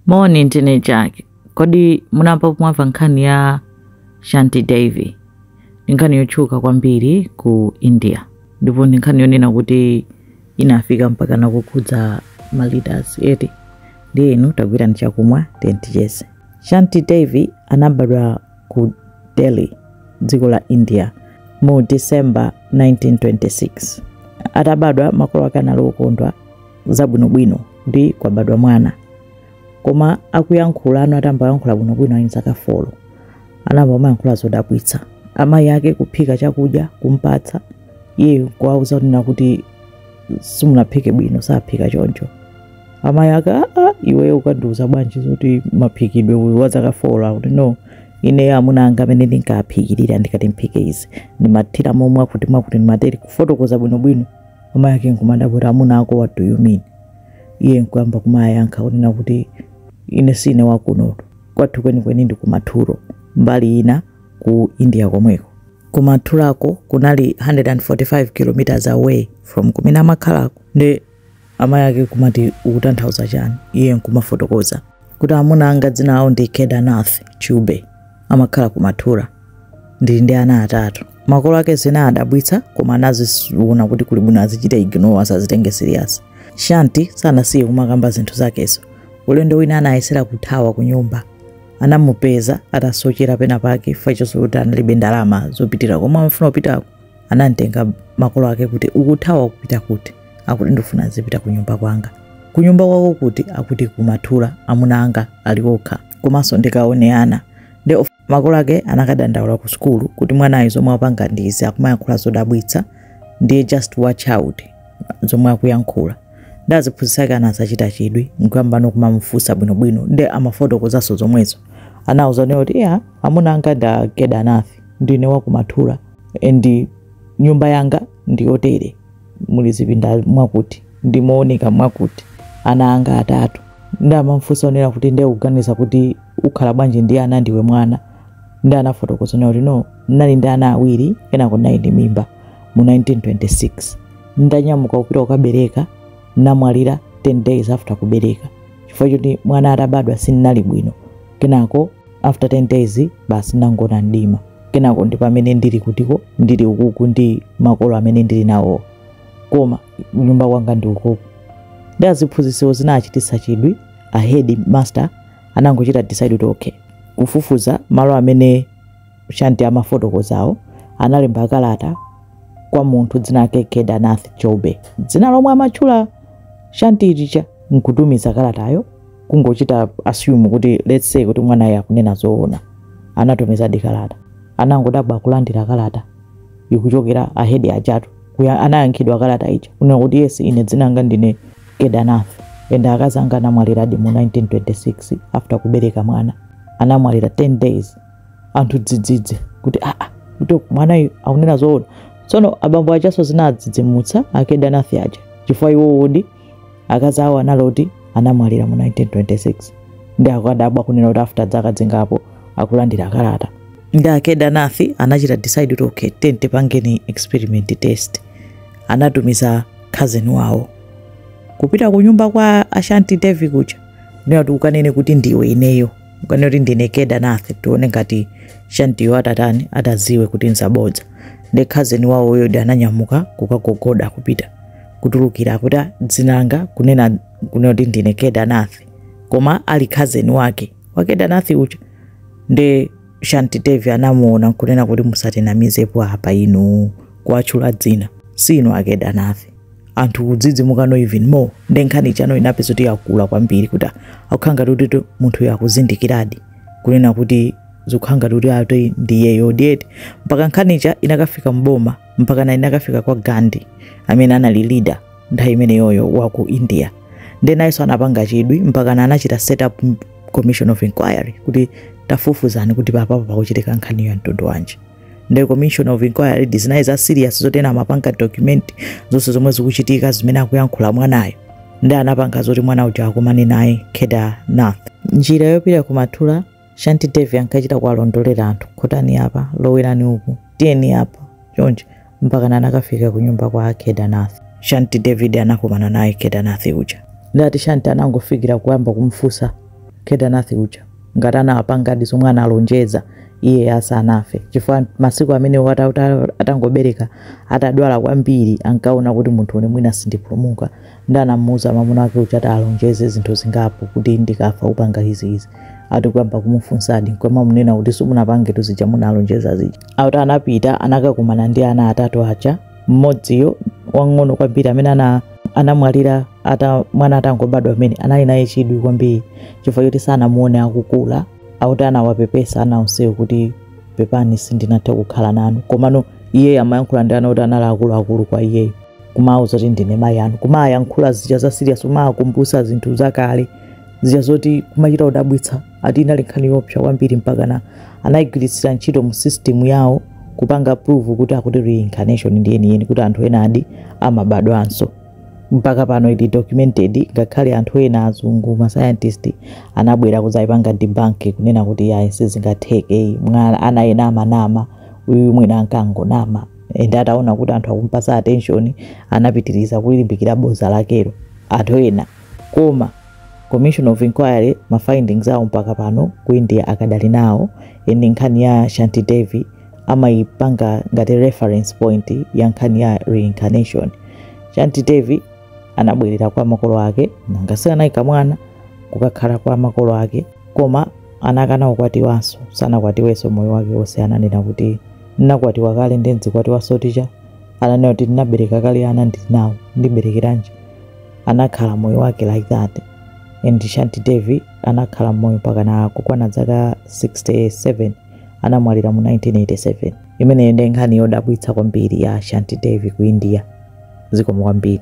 Moni ndine Jack. Kodi munamvapo mwamva nkhani ya Shanti Devi? Ndi nkhani yotchuka kwambiri ku India ndipo ndi nkhani yonena kuti inafika mpakana kukhudza ma leaders eti ndiye inu tagwirani chakumwa then ticheze. Shanti Devi anabadwa ku delhi dziko la india mu december 1926 atabadwa makolo ake anali okondwa zabwinobwino kuti kwabadwa mwana koma akuyankhulano atayamba kuyankhula bwinobwino ali ndi zaka folo anayamba kumayankhula zodabwitsa amayi ake kuphika chakudya kumpatsa iye kuwauza kunena kuti simunaphike bwino saphika choncho amayi ake aa iweyo ukundiuza bwanji zoti maphikidwe iwe wa zaka 4 akuti no ineyo amuna anga amene ndinkaphikirira ndikati mphike izi ndimathira mwakuti mwakuti ndimatere kufotokoza bwinobwino amayi ake nkumadabwa kuti amuna ako what do you mean iye nkuyamba kumayankha kunena kuti ine sine wakunotu kwathu kwenikweni ndi ku Mathura mbali ina ku india komweko ku Mathurako kunali 145 kilometers away from kumene amakhalako ndiye amayi ake kumati ukutanthauza chani iye nkumafotokoza kuti amuna anga dzina lawo ndi kedarnath chaube amakhala ku mathura ndili ndi ana atatu makolo ake zinawadabwitsa koma anaziona kuti kuli bwino azichita ignore asazitengere serious shanti sanasiye kumakamba zinthu zakezo ulendo wina anayesera kuthawa ku nyumba anamupeza atasochera pena pake poti kuti analibe ndalama zopitira komwe amafuna kupitako anamtenga makolo ake kuti ukuthawa kupita kuti akuti ndifuna zipita ku nyumba kwanga ku nyumba kwako kuti akuti ku Mathura amuna anga ali okha komanso ndikaone ana nde of- makolo ake anakadandaula ku sukulu kuti mwanayo zomwe akupanga ndi izi akumayankhula zodabwitsa ndiye just watch out zomwe akuyankhula ndiye aziphunzitsi ake anazachita chidwi nkuyambano kumamufunsa bwinobwino nde amafotokozanso zomwezo anawauza iwo kuti iyayi amuna anga ndi a Kedarnath ndine wa ku Mathura and nyumba yanga ndiyotere muli zipinda mwakuti ndi mooneka mwakuti ana anga atatu ndiye amamufunsanso nawo kuti ndiye ukuganiza kuti ukhala bwanji ndi ana ndiwe mwana ndiye anafotokoza nawo kuti no ndinali ndi ana awiri kenako ndinali ndi mimba mu 1926 ndinanyamuka kupita kukabereka ndinamwalira 10 days after kubereka chifukwa choti mwana atabadwa sindinali bwino kenako after 10 days basi ndinangoona mdima kenako ndi pamene ndili kutiko ndili ukuku ndi makolo amene ndili nawo koma kunyumba kwanga ndi ukuku ndiye aziphunzitsiwo zinawachititsa chidwi a head master anangochita decide kuti okay kufufuza malo amene Shanti amafotokozazo analemba kalata kwa munthu dzina lake Kedanath Choube, dzina lomwe amatchula Shanti lija nkutumiza kalatayo kungochita assume kuti let's say kuti mwanayo akunena zoona anatumizadi kalata anangodabwa kulandira kalata ikuchokera ahedi ajatu kuja anayankhidwa kalata ija kunena kuti yes ine dzina langa ndine Kedanath and akazi anga anamwaliradi mu 1926 after kubereka mwana anamwalira 10 days anthu dzidzidzi kuti aa kuti mwanayu akunena zoona tsono abambo ajanso zinadzidzimutsa aKedanath aja chifukwa iwo oti akazi awo anali oti anamwalira mu 1926 nde akadabwa kunena kuti after dzaka dzingapo akulandira kalata nde aKedanath anachita decide kuti okay ten tipangeni experiment test anatumiza cousin wawo kupita ku nyumba kwa aShanti Devi kuja nde ati ukanene kuti ndiwe ineyo kanene kuti ndine Kedanath tione ngati Shantiyo atatani atadziwe kuti nzabodza nde khazeni wawo uyo nde ananyamuka kukagogoda kupita kutulukira kuti "Ah, dzina langa kunena kunena kuti ndine Kedanath koma ali khazeni wake wa Kedanath uja nde Shanti Devi anamuona nkunena kuti musatinamizepo apa inu kuwatchula dzina si inu aKedanath anthu kudzidzimukano even more nde nkhani ijano inapezo ti yakula kwambiri kuti akukhala ngati kuti to- munthuyo akuzindikiradi kunena kuti zikukhala ngati kuti ati ndi iyeyodi eti mpaka nkhani ija inakafika mboma mpakana inakafika kwa Gandhi amene anali leader nthawi imeneyoyo wa ku India nde nayenso anapanga chidwi mpakana anachita set up m- commission of inquiry kuti tafufuzani kuti papapo pakuchitika nkhaniyo ya mtundu wanji nde commission of inquiry ndi zija za serious zoti ena amapanga document zonse zomwe zikuchitika zimene akuyankhula mwanayo nde anapanga zoti mwana uja akumane naye Kedanath njira yopita ku Mathura Shanti Devi ankachita kuwalondolera anthu khotani apa lowerani uku tiyeni apa chonchi mpakana anakafika kunyumba kwa Kedanath. Shanti Devi anakumana naye Kedanath uja. Nde ati Shanti anangofikira kuyamba kumfunsa Kedanath uja ngati anawapangadi zomwe analonjeza iye asanafe chifukwa masiku amene wata- wata- atangobereka atadwala kwambiri ankaona kuti munthune mwina sindipulumuka nde anamuuza mwamuna wake kuti alonjeze zinthu zingapo kuti ndikafa upange izi izi ati kuyamba kumufunsadi nkumamunena kuti simunapange tuzija munalonjeza zija ati anapita anakakumana ndi ana atatu aja mmodziyo wang'ono kwambiri amene ana anamwalira ata mwana atangobadwa amene anali naye chidwi kwambiri chifukwa choti sanamuone akukula ati anawapepesa ana onsewo kuti pepani sindinathe kukhala nanu komano iyeyo amayankhula ndi ana oti anali akuluakulu kwa iyeyo kumawauza kuti ndine mayi anu kumawayankhula zija za serious kumawakumbutsa zinthu zakale zija zoti kumachita kudabwitsa ati inali nkhani yoopsa kwambiri mpakana anayigwiritsa ntchito mu system yawo kupanga prove kuti zakuti reincarnation ndi yeniyeni kuti anthu enadi amabadwanso mpaka pano ili documented ngakhale anthu ena azungu ma scientist anabwera kudzayipanga debunk kunena kuti yayi sizingatheke mwana ana ena amanama uyu mwina ankangonama and ataona kuti anthu akumpasa attention anapitiriza kulimbikira boza lakelo anthu ena koma commission of inquiry ma findings awo mpaka pano ku india akadali nawo and nkhani ya shanti devi amayipanga ngati reference point ya nkhani ya reincarnation shanti devi anabwerera kwa makolo ake nanga si anali mwana kukakhala kwa makolo ake koma anakana kukwatiwanso sanakwatiwenso moyo wake wonse ananena kuti ndinakwatiwa kale ndidzikwatiwanso ticha ananena kuti ndinabereka kale ana ndinawo ndiberekeranji anakhala moyo wake like that and shanti devi anakhala moyo mpakana kukwana dzaka 67 anamwalira mu 1987 imeneyo ndi nkhani yodabwitsa kwambiri ya shanti devi ku india zikomo kwambiri